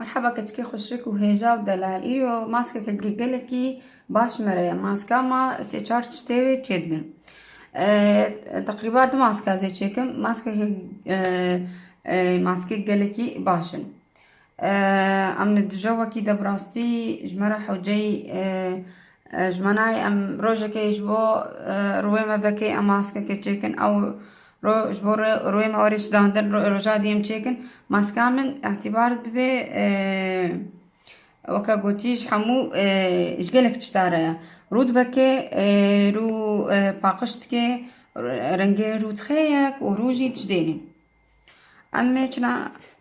Merheba keçikê xuşik û hêja û delal. Îro maskeke gelekî baş me re ye. Maska ma sê çar çitê wê çêdibin. Teqrîba du maske ez ê çêkim. Maskeke maskê gelekî baş in. Em li dije wekî de bi rastî ji me re hewceyî ji me nayê. Em rojekê ji bo rûyê me vekê em maskeke çêkin ew Ro ji bo royê me orê şidandin roja dî em çêkin maska min îtîbar dibe weke gotî ji hemû ji gelek tişta re ye. Rû diveke rû paqiş dike rengê rû dixeyek û rû jî dijidêne. Em ê çina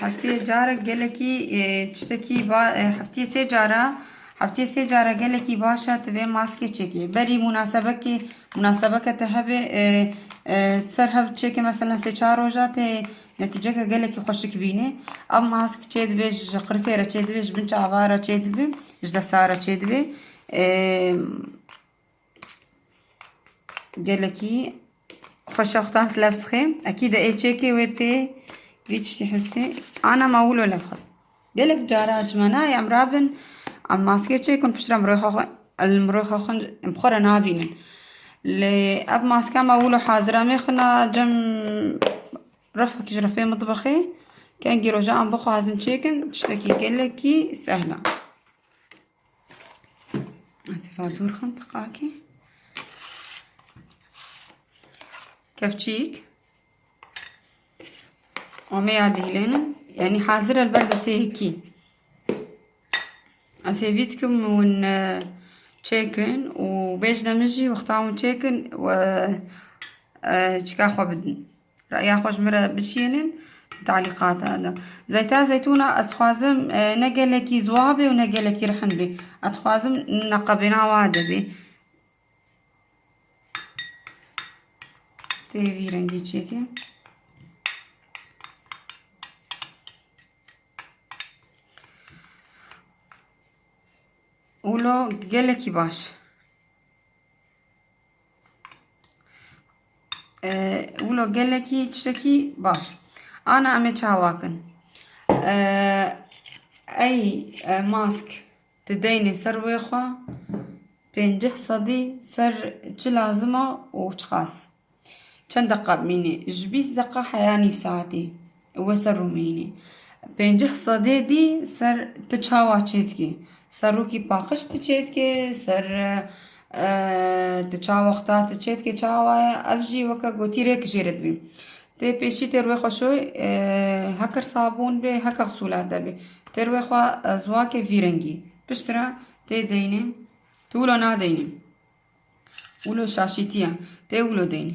Hefteyê carek gelekî tiştekî ba hefteyê sê cara hefteyê sê cara gelekî baş e tu vê maskê çêkê. Berî munasebekê munasebeke te hebê ser hev çêkê meselen sê çar roja tê netîceke gelekî xweşik bînê. Ev mask çêdibê ji qirikê re çêdibê ji bin çava re çêdibê ji desta re çêdibê. Gelekî xweşa xwe taht lef dixê. Ekî de ê çêkê wê pê vî tiştî hissê. Ana ma wilo lef xwest. Gelek cara ji me nayê em rabin em maske çêkin piştre mirov xwe li mirov xwe xwe em xwe re nabînin. Lê ev maske me wilo hazir em ê xwina cem refekî ji refê mitbexê kengî rojan em bixwazin çêkin tiştekî gelekî sehla. Atifa dûr xim tiqakî. Kevçîk. Omeya dihilênin. Yani hazir el ber destê hekî. Ez hêvî dikim hûn e, çêkin û bêjde min jî wexta hûn çêkin we e, çika xwe bidin. Reya xwe ji min re bişînîn di talîqatan de. Zeyta Zeytûna ez dixwazim ne gelekî ziwa bê û ne gelekî rihin bê. Ez dixwazim neqebêna wa de bê. Tê vî rengî çêkê. Ulo gelekî baş. Wilo gelekî tiştekî baş. Ana em ê çawakin. Ey mask tu deynê ser wê xwe pênceh sedî ser çi lazim e û çiqas. Çend deqa bimînê? Ji bîst deqa heya nîv saetî. We ser rûmînî. Pênceh sedê dî ser ti çawa çêdikî? Ser rûkî paqij ti çêdikê, ser ti çawa xta ti çêdikê çawa ye ev jî weke gotî rêk jê re dibî. Tê pêşî têr wê xwe şoy heke sabûn bê heke xisûlat de bê. Têr wê xwe ziwake vî rengî. Pişt re tê deynê tu wilo nadeynî. Wilo şaşîtî ye. Tê wilo deynî.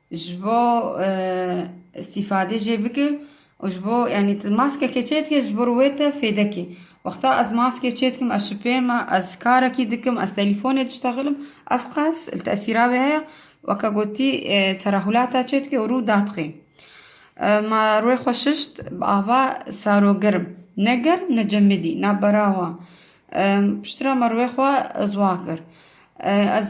Ji bo îstîfade jê bike û ji bo yanî tu maskekê çêdike ji bo wê te fêdekê. Wexta ez maskê çêdikim ez şipê me ez karekî dikim ez telîfonê diştexîlim ev qas li tesîra wê heye weke gotî terehulata çêdike û rû dadixê. Ma rûyê xwe şişt bi ava sarogerim ne germ ne cemidî na berawa piştre me rûyê xwe zwa kir ez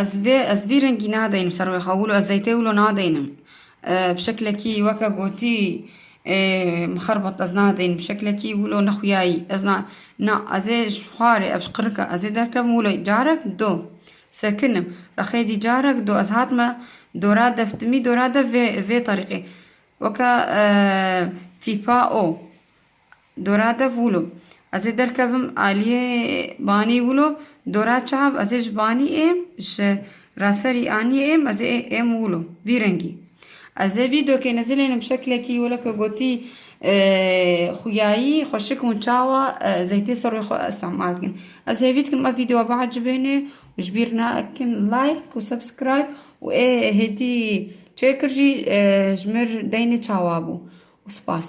Ez vê ez vî rengî nadeynim ser wê xewilo ez zeytê wilo nadeynim bi şeklekî weke gotî mixerbet ez nadeynim bi şeklekî wilo nexwiyayî ez na na ez ê ji xwarê ev ji qirika ez ê derkevim wilo carek do sekinim rexê dî carek do ez hatime dora dev timî dora dev vê vê terîqê weke tîpa o Dora dev wilo. Ez ê derkevim aliyê banî wilo. Dora çav ez ê ji banî êm ji raserî aniyê êm ez ê êm wilo. Vî rengî. Ez ê vî dokê nizilênim şeklekî weke gotî xuyayî xweşik hûn çawa zeytê ser wê xwe îstemal dikin. Ez hêvî dikim ev vîdeoya biecibêne û ji bîr nakin like û subscribe û ê hêdî çêkir jî ji mir deynê çawa bû. Spas.